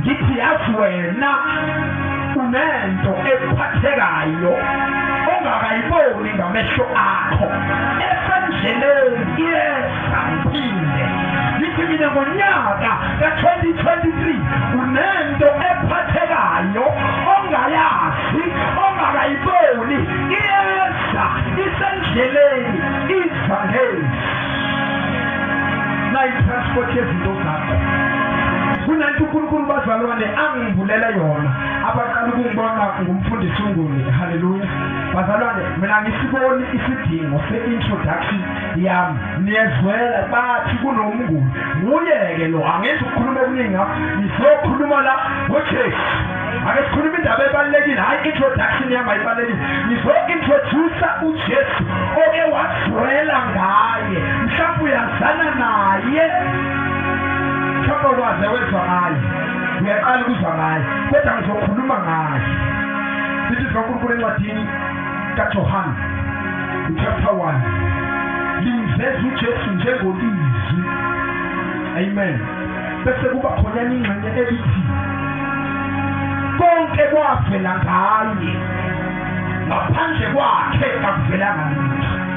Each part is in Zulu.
ngithi yazi wena unento ekuphathekayo ongakayiboni ngamehlo akho esendleleni iyeza phinde ngithi mina ngonyaka ka-2023 unento ephathekayo ongayazi ongakayiboni iyeza isendleleni iza ngezi nayitransport yezinto zakho kunento uNkulunkulu bazalwane angivulela yona abaqala ukungibona ngumfundisi uNguni haleluya bazalwane mina ngisiboni isidingo se-introduction yami niyezwela bathi kunomnguni nguye-ke lo angenzi ukukhuluma okuningi ngakho ngizokhuluma la ngojesu ake sikhuluma indaba ebalulekile hhayi introduction yami ayibalulekile ngizo-introdusa ujesu oke wazwela ngaye mhlawumbe uyazana naye Mhlawumbe ukwaze wezwa ngayo. Ngiyaqala ukuzwa ngayo. Kodwa ngizokhuluma ngayo. Sithi sikaNkulunkulu encwadini kaJohane chapter 1 limveza uJesu njengoLizwi. Amen. Bese kuba khona ingxenye elithi konke kwavela ngaye ngaphandle kwakhe kakuvelanga lutho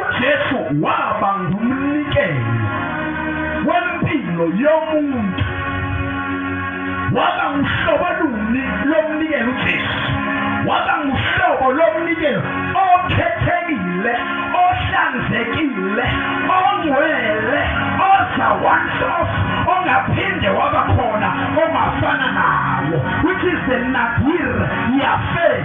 uJesu waba ngumnikelo wempilo yomuntu waba nguhlobo luni lomnikelo uJesu waba nguhlobo lomnikelo okhethekile ohlanzekile ongcwele oza once off ongaphinde waba khona ongafana nawo which is the nadir yafe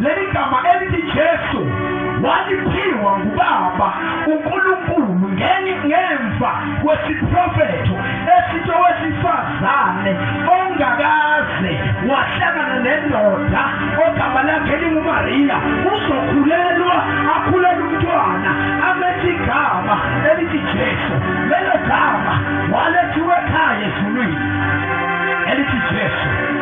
Leli gama elithi Jesu waliphiwa nguBaba uNkulunkulu ngenye ngemva kwesiprofetho esithi owesifazane ongakaze wahlangana nendoda ogama lakhe linguMariya uzokhulelwa akhulele umntwana amethi igama elithi Jesu lelo gama walethiwe ekhaya ezulwini elithi Jesu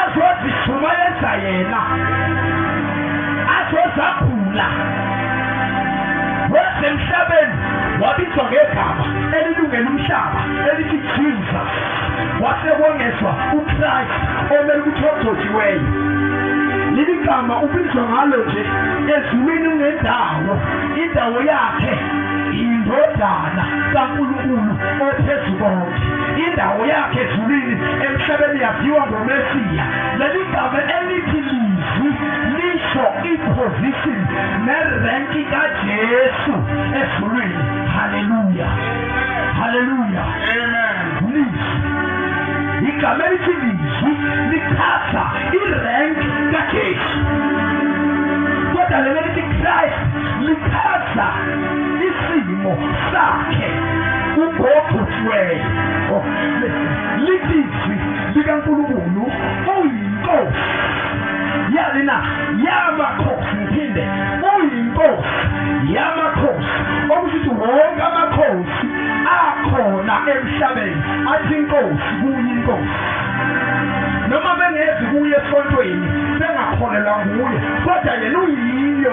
azozishumayeza yena azozagula wasemhlabeni wabizwa ngegama elilungela umhlaba elithi jesus wasekwongezwa uchrist omele ukuthi ogcotshiweyo leli gama ubizwa ngalo nje ezulwini ungendawo indawo yakhe yindodana kankulunkulu ophezu konke Indawo yakhe ezulwini emhlabeni yaziwa ngoMesiya. Leli gama elithi lizwi lisho iposition nerenki kaJesu ezulwini. Haleluya. Haleluya. Amen. Lizwi. Igama elithi lizwi lichaza irank kaJesu. Kodwa leli lithi Christ lichaza isimo sakhe ubhobhuthiweyo oh, lilizwi likankulunkulu uyinkosi yali na yamakhosi ngiphinde uyinkosi yamakhosi okusithi wonke amakhosi akhona emhlabeni athi inkosi kuyinkosi noma bengezi kuye esontweni bengakholelwa nguye kodwa yena uyiyo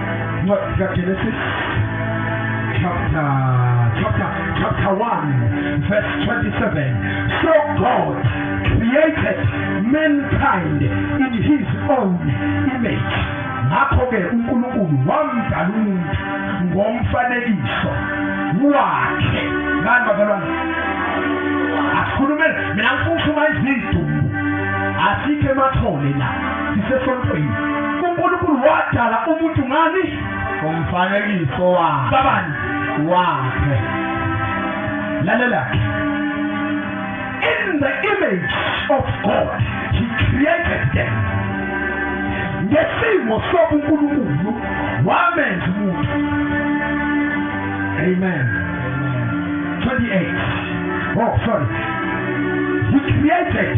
Incwadi kaGenesis chapter chapter chapter 1 verse 27 so God created mankind in his own image ngakho ke uNkulunkulu wamdala umuntu ngomfanekiso wakhe ngani bazalwane asikhulumele mina ngifuna uma izidumbu asike emathole la sisesontweni unkulunkulu wadala umuntu ngani umfanekiso wakhe babani wakhe lalela ke in the image of god he created them ngesimo sobunkulunkulu wamenza umuntu amen 28 oh sorry he created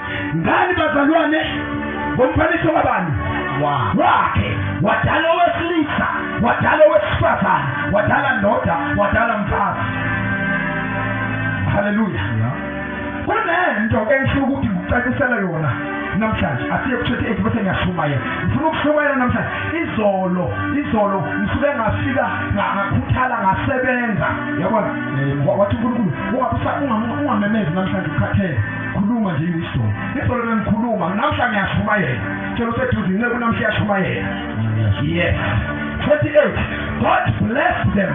ngani bazalwane ngomfanekiso kabani wakhe wadala owesilisa wadala owesifazane wadala ndoda wadala mfazi haleluya kunento engifuna ukuthi ngikucacisele yona namhlanje asiye kuthethe ethi bese ngiyashumayela ngifuna ukushumayela namhlanje izolo izolo ngisuke ngafika ngakhuthala ngasebenza yabona eh, wathi unkulunkulu ungamemezi namhlanje ukhathele khuluma nje iso izolo bengikhuluma namhla ngiyashumayela tshela useduze inceku namhla iyashumayela yes 28 god bless them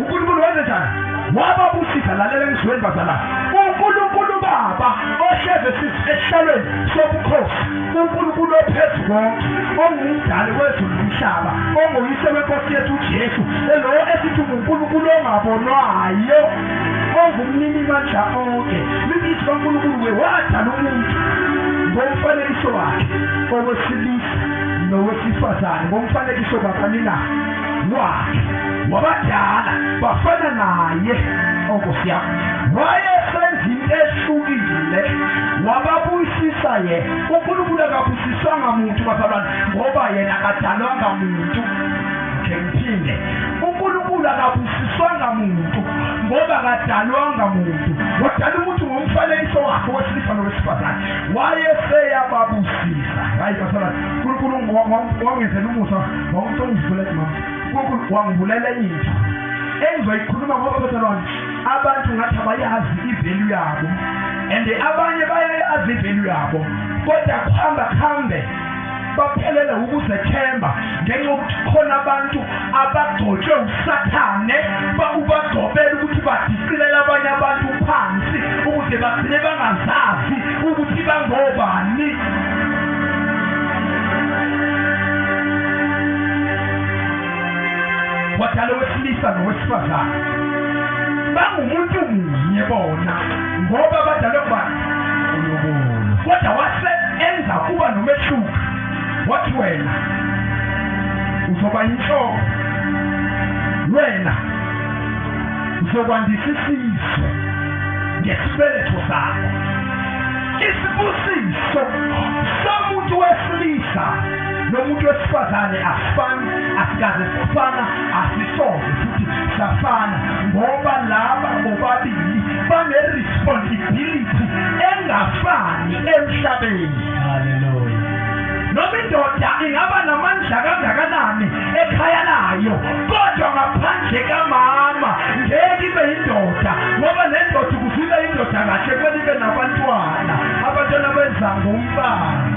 unkulunkulu wenze njani wababusisa lalela engizweni bazala unkulunkulu baba ohleze esihlalweni sobukhosi unkulunkulu ophezu konke ongumdali wezulu nomhlaba onguyise wenkosi yethu ujesu lo esithi ngunkulunkulu ongabonwayo ongumninimandla onke libithi kaNkulunkulu wewadala umuntu ngomfanekiso wakhe owesilisa nowesifazane ngomfanekiso kakanina wakhe wabadala bafana naye onkosi yam wayesenza into ehlukile wababuyisisa ye unkulunkulu akabusiswanga muntu bazalwane ngoba yena akadalwanga muntu ngiphinde unkulunkulu akabusiswanga siswanga muntu ngoba kadalwanga muntu wadala umuntu ngomfanekiso wakhe wesilisa nowesifazane wayeseyababusisa hayi basala nkulunkulu wangenzela umusa wawuthi ongivulele mama nkulunkulu wangivulela enye into engizoyikhuluma ngoba bazalwane abantu ngathi abayazi ivelu yabo and abanye bayayazi ivelu yabo kodwa kuhamba kuhambe baphelele ukuzethemba ngenxa yokuthi khona abantu abagcotshwe usathane ubagcobela ukuthi badicilela abanye abantu phansi ukuze bagcine bangazazi ukuthi bangobani wadala owesilisa nowesifazane bangumuntu munye bona ngoba badalwe ngubani kodwa wase enza kuba nomehluko wathi wena uzoba yinhloko wena uzokwandisa isizwe ngesibeletho sakho isibusiso somuntu wesilisa nomuntu wesifazane asifani asikaze sifana asisoze futhi safana ngoba laba bobabili bane-responsibility engafani emhlabeni noma indoda ingaba namandla kangakanani ekhaya layo kodwa ngaphandle kamama ngeke ibe yindoda ngoba le ndoda ukufika indoda kahle kweli ibe nabantwana abantwana benza ngomfana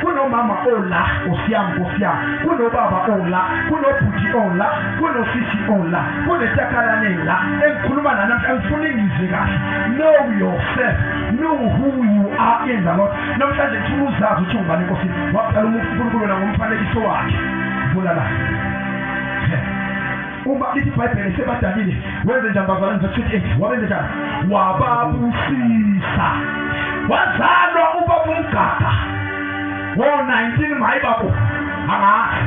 kunomama ola nkosi yami nkosi yami kunobaba ola kunobhuti ola kunosisi ola kunetakalane la engikhuluma nanamhla ngifuna ingizwe kahle know yourself know who you are in the lord namhlanje ngifuna uzazi ukuthi ungubani nkosi waqala umuntu unkulunkulu wena ngomfanekiso wakhe vula la Uma lithi iBhayibheli sebadalile, wenze njani bazalwane verse 28? Wabenze njani? Wababusisa. Wazalwa ubaba umgada. Wo 19 mayi babo. Angazi.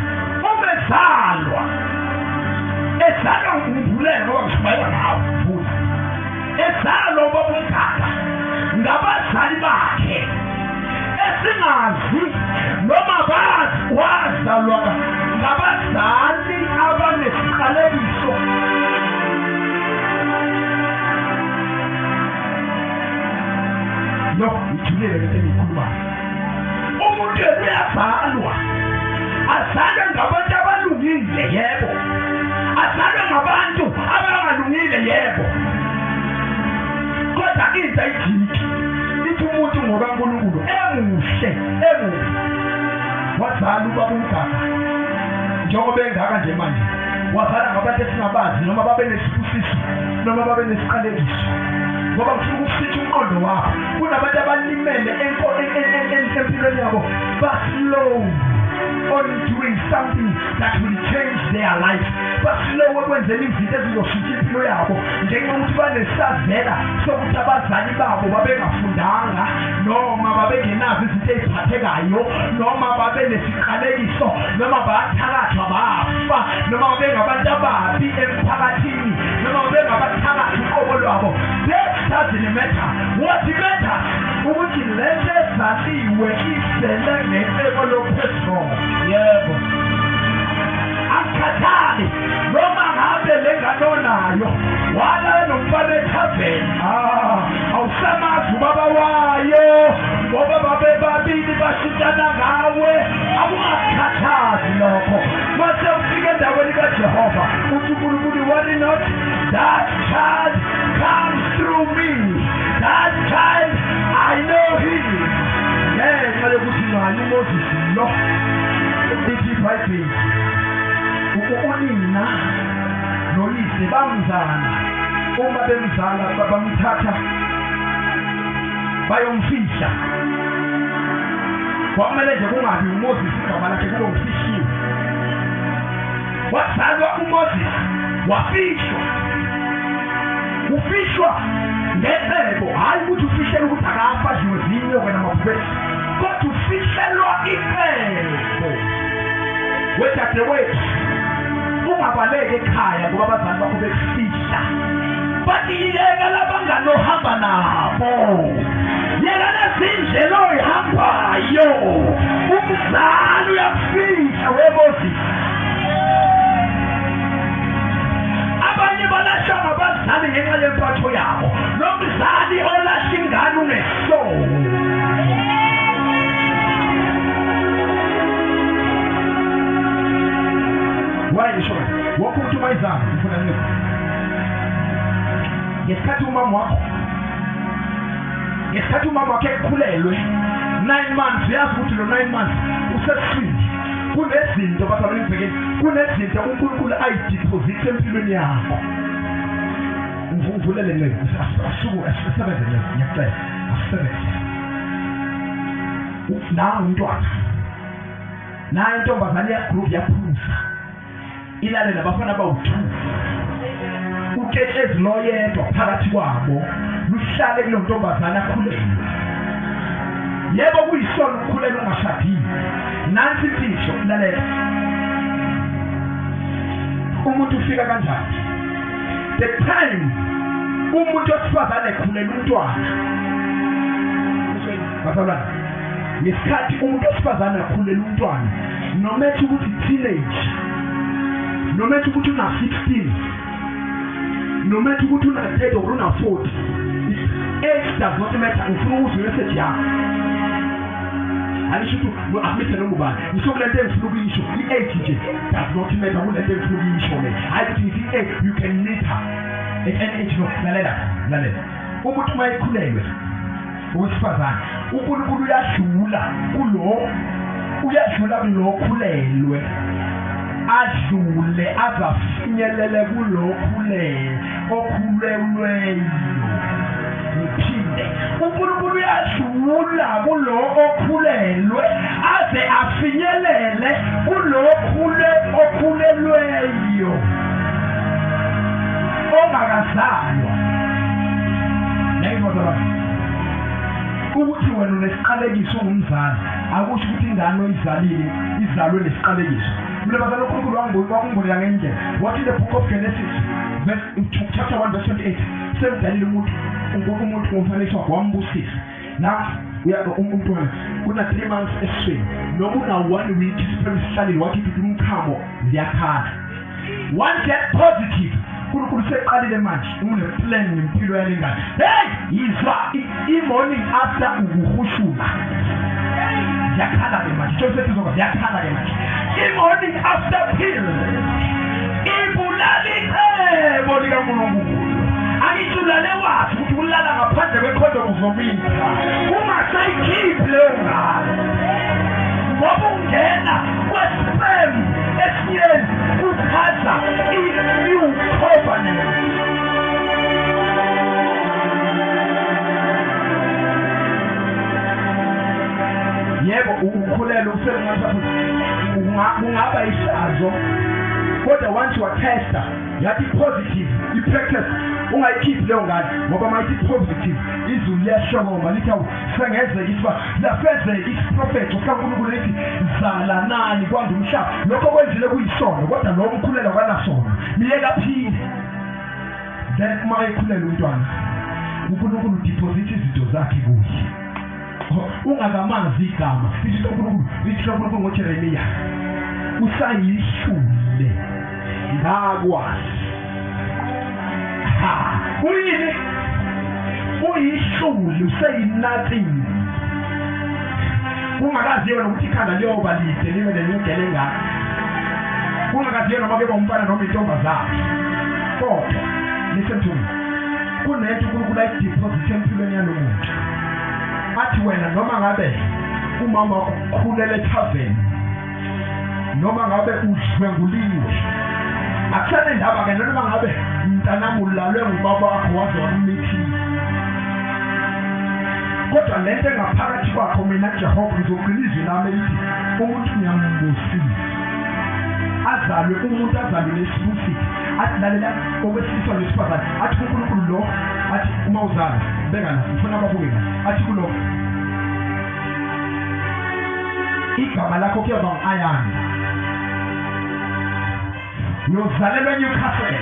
Umezalwa. Ezalwa ngumbulela ngoba ngishumayela ngawo. Buza. Ezalwa ubaba umgada. Ngabazali bakhe. esingazi noma bazi wazalwa ngabazali abanesiqalekiso yo ngithulile lento engikhulumayo umuntu yena uyazalwa azalwe ngabantu abalungile yebo azalwe ngabantu abangalungile yebo kodwa intsha ijiki ithi umuntu ngoba uNkulunkulu emuhle emuhle wazala ubaba umgaba njengoba engaka nje manje wazala ngabantu esingabazi noma babe nesibusiso noma babe nesiqalekiso ngoba ngifuna ukusitha umqondo wakho kunabantu abalimele empilweni yabo baslow on doing something that will change their life baslow ekwenzeni izinto ezizoshintsha impilo yabo ngenxa yokuthi banesazela sokuthi abazali babo babengafundanga noma babengenazo izinto eziphathekayo noma babenesiqalekiso noma bathakathwa bafa noma babengabantu ababi emphakathini noma babengabathakathi uqobo lwabo that doesn't matter what matter ukuthi le nto ezaliwe izele ngeqeko lophezulu yebo akukhathali noma ngabe le ngane onayo walala nomfana ethaveni ah, awusamazi ubaba wayo ngoba babebabili bashintana ngawe akungakukhathazi lokho mase ufika endaweni kajehova uthi unkulunkulu worry not that child comes through me that child i know him ngenxa yokuthi ngani umoses lo ithi ibhayibheli Unina noyise bamzala uma bemzala babamthatha bayomfihla kwakumele nje kungabi uMoses igama lakhe kube ufihliwe wazalwa uMoses wafihlwa ufihlwa ngecebo hhayi ukuthi ufihlele ukuthi akafa adliwe zinyoka namabhubesi kodwa ufihlelwa icebo wedadewethu ungabaleki ekhaya ngoba abazali bakho bekufihla bathi yeka labangani ohamba nabo yeka lezindlela oyihambayo umzali uyakufihla webozisa abanye balashwa ngabazali ngenxa yempatho yabo nomzali olahla ingane unge ngesikhathi umama wakho ngesikhathi umama wakhe ekhulelwe nine months uyazi ukuthi lo nine months useswini kunezinto basabenibhekeni kunezinto unkulunkulu ayidiphozithe empilweni yakho Ngivulele nceke asuku asebenze nceke ngiyacela asebenze. Nawu umntwana. Nayo intombazane ya group yaphuza. Ilale nabafana bawu-2. Uketshezi loyedwa phakathi kwabo luhlale kulo ntombazane akhulelwe. Yebo kuyisona ukukhulelwa ungashadile. Nansi imfihlo lalela. Umuntu ufika kanjani? the time umuntu wesifazane ekhulele umntwana bazalwane ngesikhathi umuntu wesifazane akhulele umntwana noma ethi ukuthi teenage noma ethi ukuthi una 16 noma ethi ukuthi una 30 or una 40 age does not matter ngifuna ukuzwa imessage yakho angisho ukuthi uhamisa noma ubani ngisho kule nto engifuna ukuyisho i-age nje does not matter kule nto engifuna ukuyisho le hhayi ukuthi ngithi i-age eh, you can meet her at any age no lalela lalela umuntu uma ekhulelwe owesifazane unkulunkulu uyadlula kulo uyadlula kulo khulelwe adlule azafinyelele kulo khulelwe okhulelweyo uphinde unkulunkulu uyadlula kulo okhulelwe aze afinyelele kulo okhulelweyo ongakazalwa nayibona ukuthi wena unesiqalekiso ungumzali akusho ukuthi ingane oyizalile izalwe nesiqalekiso Mnumazana uNkulunkulu wangibona wangibonela ngenye indlela. What in the book of Genesis verse chapter 1 verse 28 semdalile umuntu uNkulunkulu umuntu ngomfanekiso wakhe wambusisa. Nathi umntwana kuna three months esiswini noma una one week siphele sihlalile wakhipha umchamo ziyakhala one get positive uNkulunkulu useqalile manje uneplan ngempilo yale ngane hey yizwa i-morning after ukuhushuma yakhala-ke manje joseph izoka yakhala-ke manje i-morning after pill ibulala icebo likankulunkulu angithi ulale wazi ukuthi ulala ngaphandle kwekhondomu uzomisa ungasayikhiphi leyo ngane ngoba ungena kwesipemu yebo ukukhulelwa usekungathi kungaba ihlazo kodwa once watesta yathi positive i-practice ungayikhiphi leyo ngane ngoba mayithi positive izulu liyahlokoma lithi sengenzeka isiba lafezeka isiprofethi sikaNkulunkulu ethi zalanani kwanda umhlaba lokho kwenzile kuyisono kodwa lo mkhulelo kanasono niyeka phinde then uma ekhulele umntwana uNkulunkulu udiphozitha izinto zakhe kuye ungakamazi igama ithi uNkulunkulu ithi uNkulunkulu ngoJeremiya usayihlule ngakwazi ha kuyini uyihlulu seyinathi kungakazi yona ukuthi ikhanda liyoba lide libe nenyugele engaka kungakazi yona uma keba umfana noma intombazane kodwa listen to me kunento unkulunkulu ayidiphozithe empilweni yalo muntu athi wena noma ngabe umama ukhulele ethaveni noma ngabe udlwenguliwe akusane ndaba ke noma ngabe mntanami ulalwe ngubaba wakho waze wamithile kodwa le nto engaphakathi kwakho mina jehova ngizogcina izwi lami elithi umuntu ngiyambusile azalwe umuntu azalwe nesibusile athi lalela owesilisa nesifazane athi unkulunkulu lo athi uma uzala beka la ngifuna babuke la athi kulo igama lakho kuyoba ngu-ayani uyozalelwa enewcastle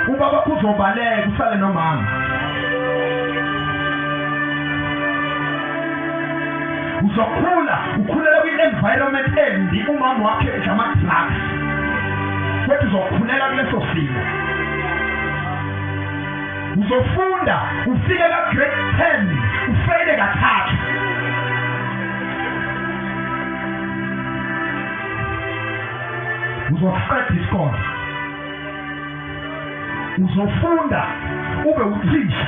ubaba kuzobaleka usale nomama uzokhula ukhulela kwi-environment embi umama wakhe edla ama-drugs kodwa uzokhulela kuleso simo uzofunda ufike ka grade 10 ufeyile kathathu uzoqeda isikole uzofunda ube uthisha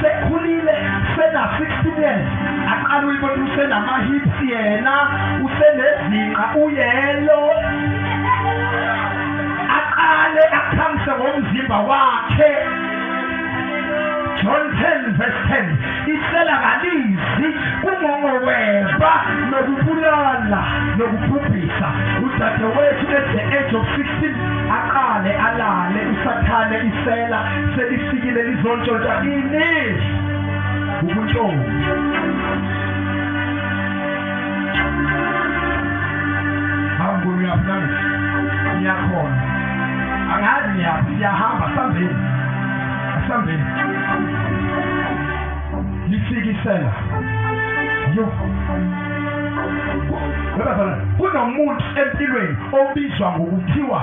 sekhulile sena 16 years aqala uyibona usenama hips yena usenezinqa uyelo aqale akhamse ngomzimba wakhe John 10 verse 10 isela kalizi kungongoweba nokubulala nokubhubhisa udadewethu at the age of 16 aqale alale usathane isela selifikile lizontshontsha ini ubuntshontsha hambulu yaphana ngiyakhona angazi ngiyaphi siyahamba sambeni asambeni lifikisela yo kunomuntu empilweni obizwa ngokuthiwa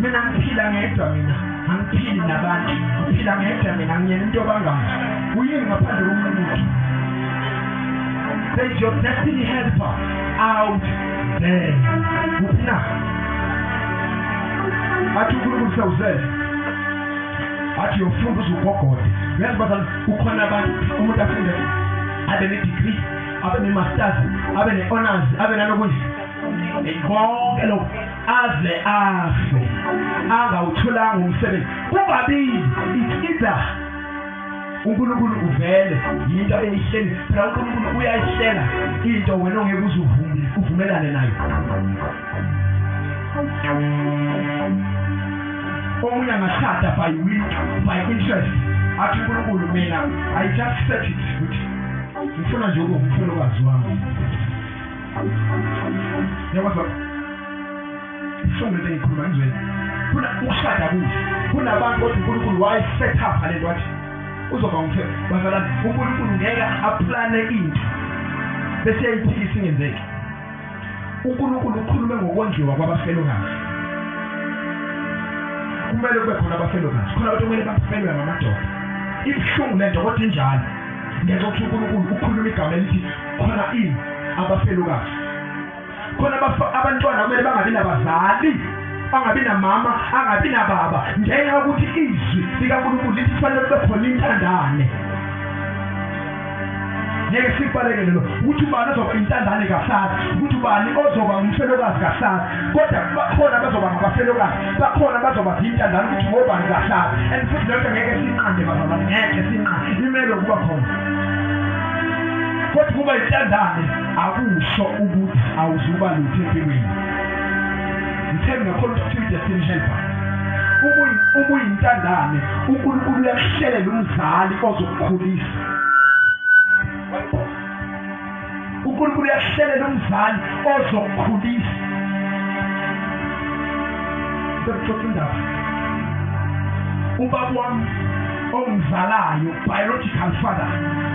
mina ngiphila ngedwa mina angiphili nabantu ngiphila ngedwa mina ngiyena into bangani uyini ngaphandle komuntu say your destiny helper out there uphina athi unkulunkulu sewuzele athi yofunda uzugogode uyazi bazali ukhona abantu umuntu afunde abe ne-degree abe ne-masters abe ne-honors abe nanokunye konke lokhu aze afe angawutholanga umsebenzi kubabili it's either uNkulunkulu uvele yinto eyihleli phela uNkulunkulu uyayihlela into wena ongeke uzuvume uvumelane nayo omunye angashada by will by interest athi uNkulunkulu mina i just set it ukuthi ngifuna nje ukufuna ukwazi wami Niyakwazi baba? Sonke into engikhuluma ngizweni. Kuna ukushada kuhle. Kunabantu othi uNkulunkulu waye set up le nto athi uzoba umthe bazalana uNkulunkulu ngeke aplane into bese yayiphikisa ingenzeki. uNkulunkulu ukhulume ngokondliwa kwabafelokazi kumele kube khona abafelokazi khona abantu kumele bafelwe ngamadoda ibuhlungu lento kodwa injalo ngenxa ukuthi uNkulunkulu ukhuluma igama elithi khona i abafelokazi khona abantwana kumele bangabi nabazali angabi namama angabi nababa ngenxa yokuthi izwi likankulunkulu lithi kufanele kube khona intandane ngeke sibalekele lo ukuthi ubani ozoba intandane kahlali ukuthi ubani ozoba umfelokazi kahlali kodwa bakhona abazoba ngabafelokazi bakhona abazoba zintandane ukuthi ngobani kahlali and futhi lento ngeke sinqande bazalwane ngeke sinqande imele ukuba khona kodwa ukuba intandane akusho ukuthi awuzuba lutho empilweni ngithembe ngakhona ukuthi udestiny helper ubuyintandane unkulunkulu uyakuhlelela umzali ozokukhulisa unkulunkulu uyakuhlelela umzali ozokukhulisa sekuxoxa indaba ubaba wami omzalayo biological father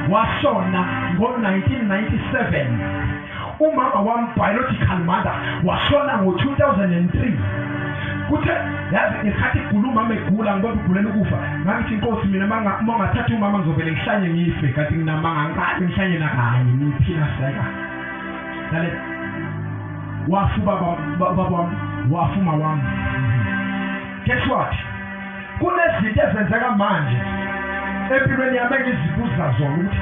washona ngo-1997 umama wami biological mother washona ngo-2003 kuthe yazi ngesikhathi igula umama egula ngibona ugulela ukufa ngangithi inkosi mina uma ungathatha umama ngizovele ngihlanye ngife kanti nginamanga ngiqale ngihlanye nakanye ngiphila seka lale wafu baba baba wami wafu mawami guess what kunezinto ezenzeka manje empilweni yami engizibuza zona ukuthi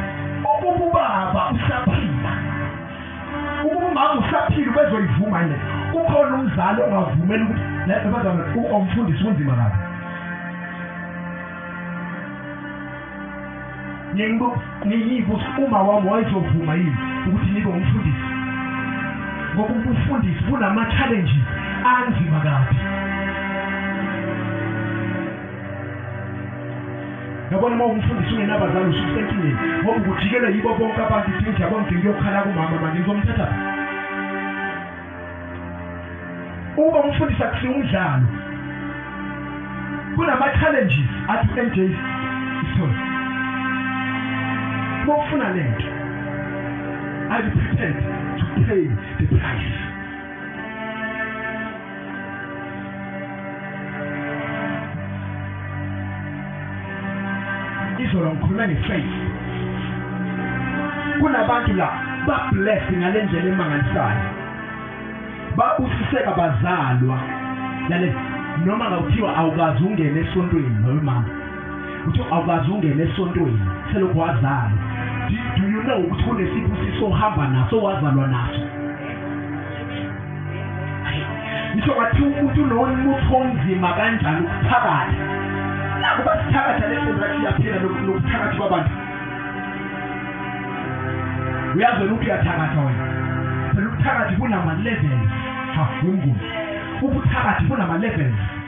ukuba ubaba usaphila ukuba umama usaphila ubezoyivuma yini kukhona umzali ongavumeli ukuthi lento bazana umfundisi kunzima kabi ngiyibusi uma wami wayezovuma yini ukuthi nibe umfundisi ngoba ubufundisi bunama-challenges anzima kabi yabona uma umfundisi ungenabazali ususenkingeni ngoba ukujikela yibo bonke abantu idinja bonke ngiyokhala kumama manje ngizomthatha Uma umfundisi akusiya umdlalo kunama-challenges athi u-NJ isithole uma ufuna le nto are you prepared to pay the price izolo ngikhulume ngefaith kunabantu la bablessed ngale ndlela emangalisayo babusiseka bazalwa lale noma ngakuthiwa awukazi ungene esontweni noma uthi awukazi ungene esontweni selokhu wazalwa do you know ukuthi kunesibusiso ohamba naso wazalwa naso ngisho ngathi umuntu unomutho onzima kanjani ukuthakatha nakuba sithakatha lesenzathi iyaphila nokuthakatha kwabantu uyazi wena ukuthi uyathakatha wena phela ubuthakathi bunama-levels ha yumnguni ubuthakathi bunama-levels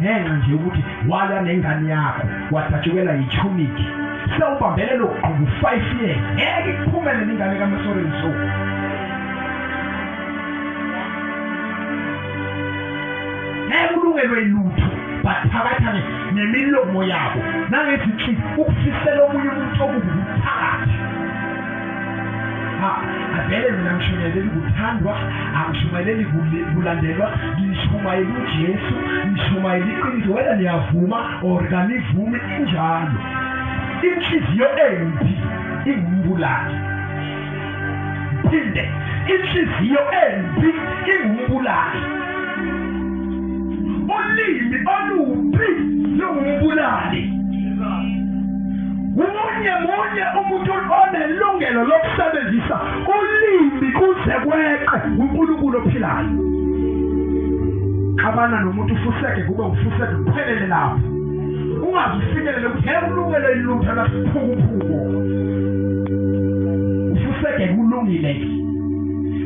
ngenxa nje ukuthi walwa nengane yakho wadatshukela yithumiki sewubambelela ukugquba u-five years ngeke iphumele ningane kamasoreni so ngeke ulungelwe lutho bathakatha nemilomo yabo nangezinhlini ukufisela omunye umuntu okubi vele mina ngishumayeleli kuthandwa angishumayeleli kulandelwa ngishumayela ujesu ngishumayela iqiniso wena niyavuma or kanivumi injalo inhliziyo embi ingumbulali phinde inhliziyo embi ingumbulali ulimi olubi lungubulali umunye munye umuntu onelungelo lokusebenzisa ulimi kuze kweqe uNkulunkulu ophilayo xabana nomuntu ufuseke kube ufuseke kuphelele lapho ungaze ufikelele ukuthi heke ulungele ilutho lasiphukuphuku ufuseke kulungile ke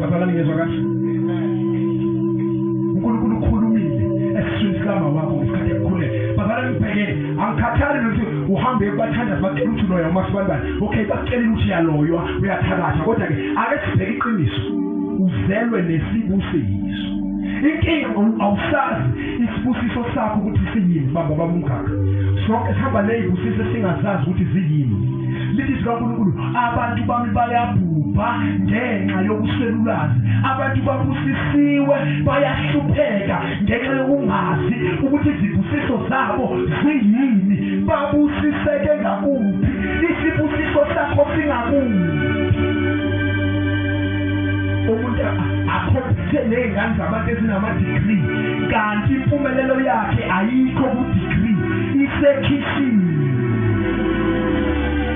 Bazalwane ngezwa kahle. uNkulunkulu ukhulumile esiswini sikama wakho ngesikhathi ekukhulele. Bazalwane ngibhekele angikhathali nokuthi uhambe kubathandazi bacela ukuthi loya uma sibanibani. Okay bakucelile ukuthi uyaloywa uyathakatha kodwa ke ake sibheke iqiniso. Uzelwe nesibusiso. Inkinga awusazi isibusiso sakho ukuthi siyini baba bamungaka. Sonke sihamba nezibusiso singazazi ukuthi ziyini. Lizwi likaNkulunkulu abantu bami bayabhubha ngenxa yokuswelulwazi abantu babusisiwe bayahlupheka ngenxa yokungazi ukuthi izibusiso zabo ziyini babusiseke ngakuphi isibusiso sakho singakuphi umuntu akhompithe ney'ngane zabantu ezinamadigrii kanti impumelelo yakhe ayikho kudigrii isekhishini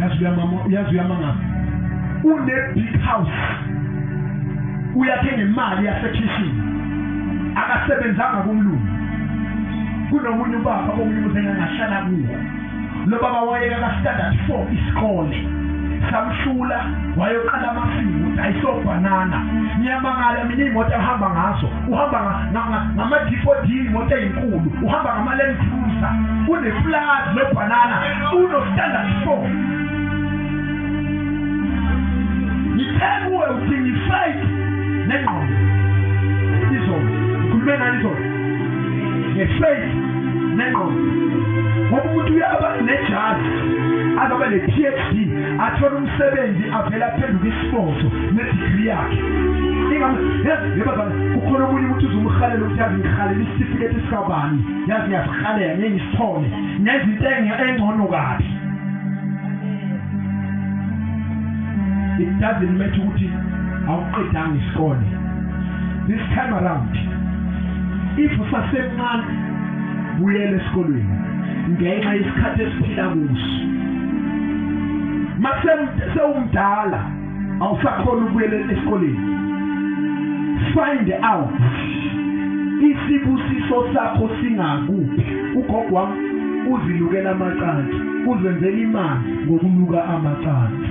yazi uyamama yazi uyamanga une big house uyakhe ngemali yasekhishini akasebenzanga kumlungu kunomunye ubaba omunye umuntu engangahlala kuwo lo baba wayeka ka-standard four isikole samhlula wayoqala amasimu dayisobhanana ngiyamangala mina iy'moto ahamba ngazo uhamba ngamadipodini imoto eyinkulu uhamba ngama-land cruiser unepulazi lobhanana uno-standard four ngithe kuwe udinga ifayiti nengqondo izolo ngikhulume ngani izolo ngefayiti nengqondo ngoba umuntu uyaba nejazi azoba ne-phd athole umsebenzi avele aphenduka Foto nedegree yakhe. Ingam yazi yebazana ukhona omunye umuntu uzumhalela ukuthi yazi ngihalela isitifiketi sikabani. Yazi ngiyasihalela ngeke ngisithole. Nezinto engcono kabi. It doesn't matter ukuthi awuqedanga isikole. This time around if usasemncane buyela esikolweni ngenxa yesikhathi esiphila kuso makusewumdala awusakhona ukuyelela esikoleni find out isibusiso sakho singakuphi ugogo wami uzilukela amacansi uzenzela imali ngokuluka amacansi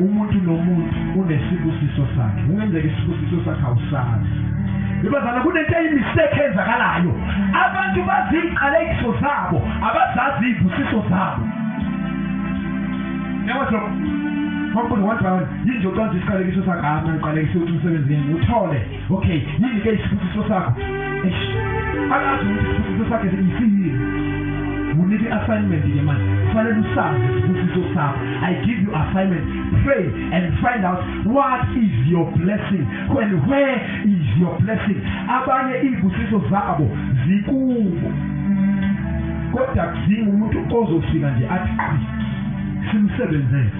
umuntu nomuntu unesibusiso sakhe kungenzeka isibusiso sakhe awusazi ibazana kunento eyimistake enzakalayo abantu baziqalekiso zabo abazazi izibusiso zabo nyawaso kwakubuza wathi yini nje ucwanza isiqalekiso sakhe hama ngiqalekise ukuthi umsebenzi yini uthole okay yini ke isibusiso sakho eish akazi ukuthi isibusiso sakhe siyini unike assignment ke manje kufanele usazi isibusiso sakho i give you assignment pray and find out what is your blessing and where is your blessing abanye izibusiso zabo zikubo kodwa kudinga umuntu ozofika nje athi simsebenzele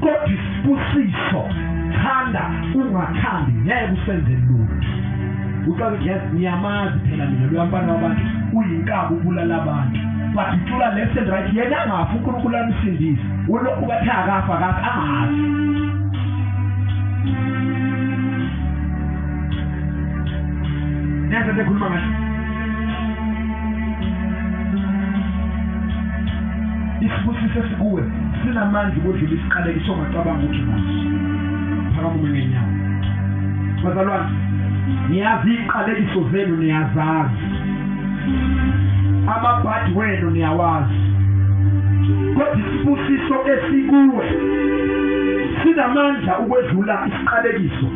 kodwa isibusiso thanda ungathandi ngeke usenze lutho uqala ukuthi yes ngiyamazi phela mina luyamfana wabantu uyinkabi ubulala abantu but ucula left and right yena angafi unkulunkulu amsindise ulokhu bathe akafa kathi angazi neza sekhuluma ngathi isibusiso esikuwe sinamandla ukudlula isiqaleki songacabanga ukuthi naso phakama ume ngenyawo bazalwane niyazi iqalekiso zenu niyazazi amabhadi wenu niyawazi kodwa isibusiso esikuwe sinamandla ukwedlula isiqalekiso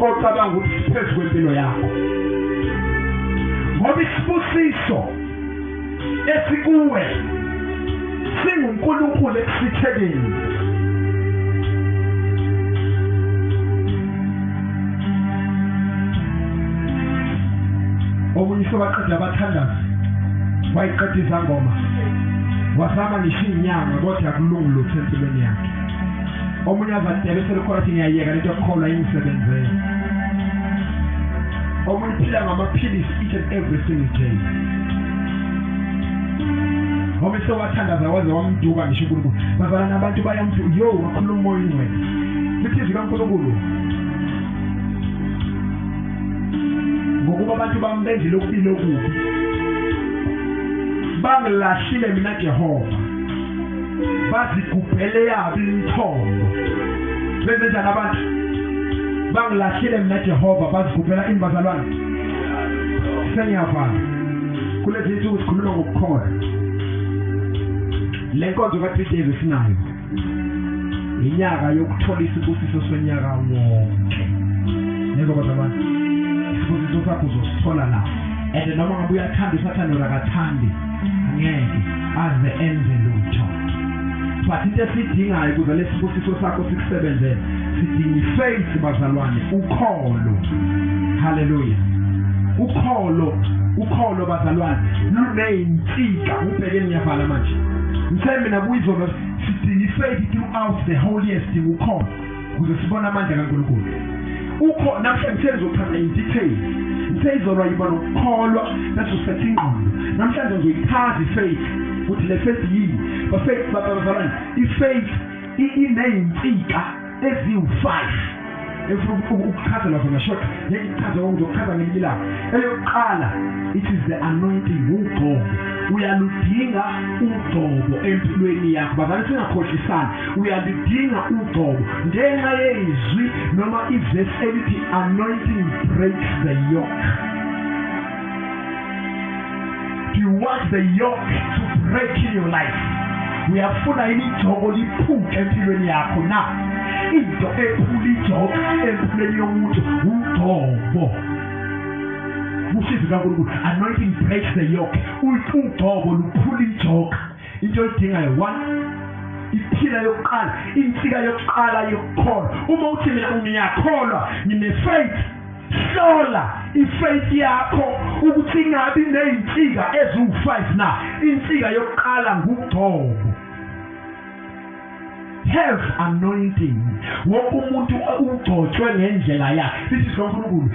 ocabanga ukuthi siphezu kwempilo yakho ngoba isibusiso esikuwe singuNkulunkulu ekusithekeni omunye sobaqeda abathandazi wayiqeda izangoma wazama ngisho inyanga kodwa kulungu lutho empilweni yakhe omunye azadebe selikhona ukuthi ngiyayeka lento yokukholwa ingisebenzele omunye uphila ngamaphilisi each and every single day ngoba esewathandaza waze wamduka ngisho uNkulunkulu bazalana abantu bayamthi yo wakhuluma umoya ingcwele lithi izwi kaNkulunkulu ngokuba abantu bami bendile ukubili okubi bangilahlile mina Jehova bazigubhele yabo imithombo benzenjani abantu bangilahlile mina Jehova bazigubhela imbazalwane sengiyavala kulezi nsuku sikhuluma ngokukholwa le nkonzo ka-three days esinayo yinyaka yokuthola isibusiso sonyaka wonke nizwa kodwa abantu isibusiso sakho uzosithola la and noma ngabe uyathanda usathane or akathandi angeke aze enze lutho but into esidingayo ukuze lesibusiso sakho sikusebenzele sidinga ifaith bazalwane ukholo haleluya ukholo ukholo bazalwane luneyinsika ubheke ngiyavala manje ngise mina kuyizona sidinga ifaith throughout the whole year sidinga ukholo ukuze sibone amandla kaNkulunkulu ukho namhlanje sengizochaza in detail seyizolwa yiba nokukholwa bese usetha ingqondo namhlanje ngizoyichaza ifaith ukuthi le faith yini bafaith babazalwane ifaith ineyinsika eziwu-5 efuna ukuchazelwa zona short ngeke ichaze konke ngizokuchaza ngelinye ilanga eyokuqala it is the anointing ugcobo uyaludinga ugcobo empilweni yakho bazali singakhohlisani uyalidinga ugcobo ngenxa yezwi noma ivesi elithi anointing breaks the yoke do you want the yoke to break in your life uyafuna yini igcobo liphuke empilweni yakho na into ephula igcobo empilweni yomuntu ugcobo usizi kankulunkulu anointing breaks the yoke ugcobo luphula ijoka into oyidingayo one iphila yokuqala insika yokuqala yokukholwa uma uthi mina ngiyakholwa ngine-faith hlola ifaith yakho ukuthi ingabi nezinsika eziwu5 na insika yokuqala ngugcobo have anointing wonke umuntu ugcotshwe ngendlela yakhe sithi silonkulunkulu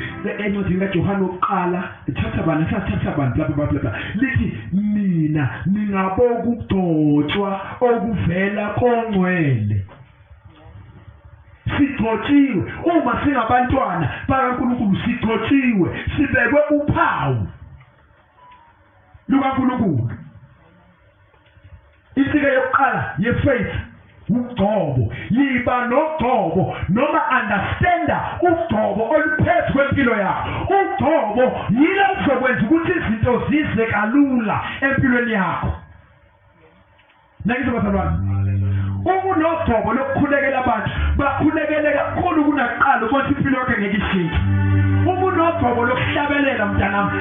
encwadini kaJohane wokuqala thatha bani sathatha bani bla bla bla lithi mina ningaboka ukugcotshwa okuvela kongcwele sigcotshiwe uma singabantwana bakaNkulunkulu sigcotshiwe sibekwe uphawu lukaNkulunkulu Insika yokuqala yefaith ugcobo yiba nogcobo noma understanda ugcobo oluphezu kwempilo yakho ugcobo yilo kuzokwenza ukuthi izinto zize kalula empilweni yakho nakizwa bazalwane uma unogcobo lokukhulekela abantu bakhulekele kakhulu kunakuqala ukuthi impilo yakhe ngeke ishintshe uma unogcobo lokuhlabelela mntanami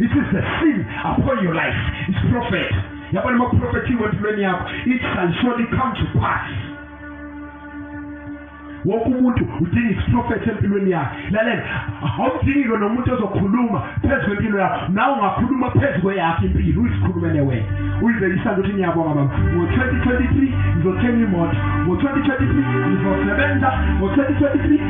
This is the sin upon your life. It's prophet. Yabona uma prophethiwe empilweni yakho, it shall surely come to pass. Wonke umuntu udinga isiprophet empilweni yakhe. Lalela, awudingi-ke nomuntu ozokhuluma phezu kwempilo yakho. Nawe ungakhuluma phezu kweyakho impilo, uyisikhulumele wena. Uyibhekisa ukuthi ngiyabonga baba. Ngo-2023 ngizothenga imoto. Ngo-2023 ngizosebenza. Ngo-2023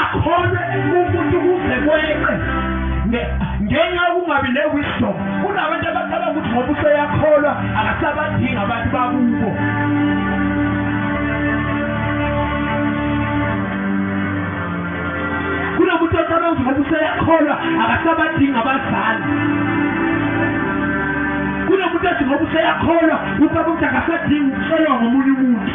akhona ukuthi kuze kweqe ngenxa yokungabi ne-wisdom kunabantu abacabanga ukuthi ngoba useyakholwa akasabadingi abantu bakubo kunomuntu ocabanga ukuthi ngoba useyakholwa akasabadingi abazali kunomuntu ethi ngoba useyakholwa ubaba ukuthi akasadingi ukucelwa ngomunye umuntu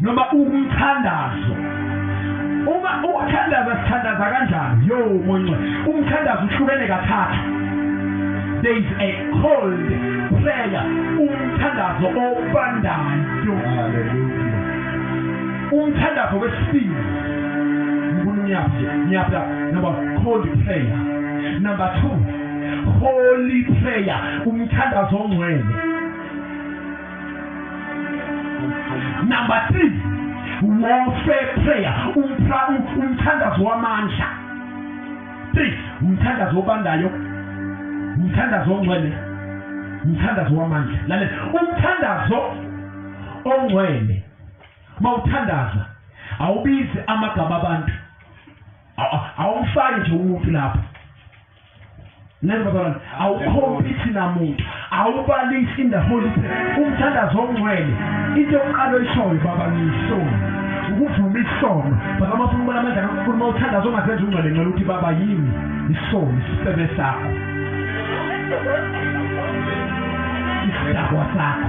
noma umthandazo uma ukuthandaza sithandaza kanjani yo monce umthandazo uhlukene kathathu there is a cold prayer umthandazo obandayo umthandazo wesibili ngibona umyaphi ngiyapha number cold prayer number 2 holy prayer umthandazo ongcwele number 3 warfare prayer umthandazo wamandla 3 umthandazo obandayo umthandazo ongcwele umthandazo wamandla lalela umthandazo ongcwele mawuthandaza awubizi amagama abantu awumfaki nje umuntu lapho Nenzabana awukhompithi namuntu awubalisi in the holy spirit umthandazo ongcwele into yokuqala oyishoyo baba ngiyisoni ukuvuma isono baba mafuna ubona amandla kaNkulunkulu uma uthandaza ongazenza ungcwele ngcela ukuthi baba yimi isono isifebe sakho isidakwa sakho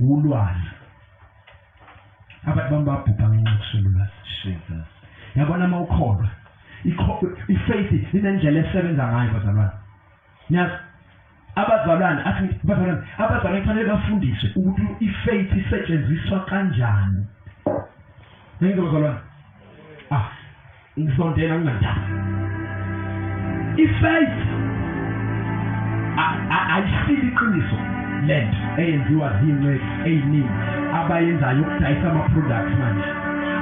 wulwane abantu bami babhubha ngenxa yokusululwazi jesus yabona uma ukholwa ifaith inendlela esebenza ngayo bazalwane nyazi abazalwane athi bazalwane abazalwane kufanele bafundiswe ukuthi ifaith isetshenziswa kanjani ngenze bazalwane ah Ngisondela kunandaba. Ifaith ayisili iqiniso lento eyenziwa zinqe eziningi abayenzayo ukudayisa ama products manje.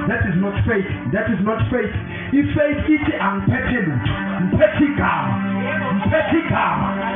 That is not faith. That is not faith. Ifaith ithi angiphethe lutho. Ngiphethe igama. Ngiphethe igama.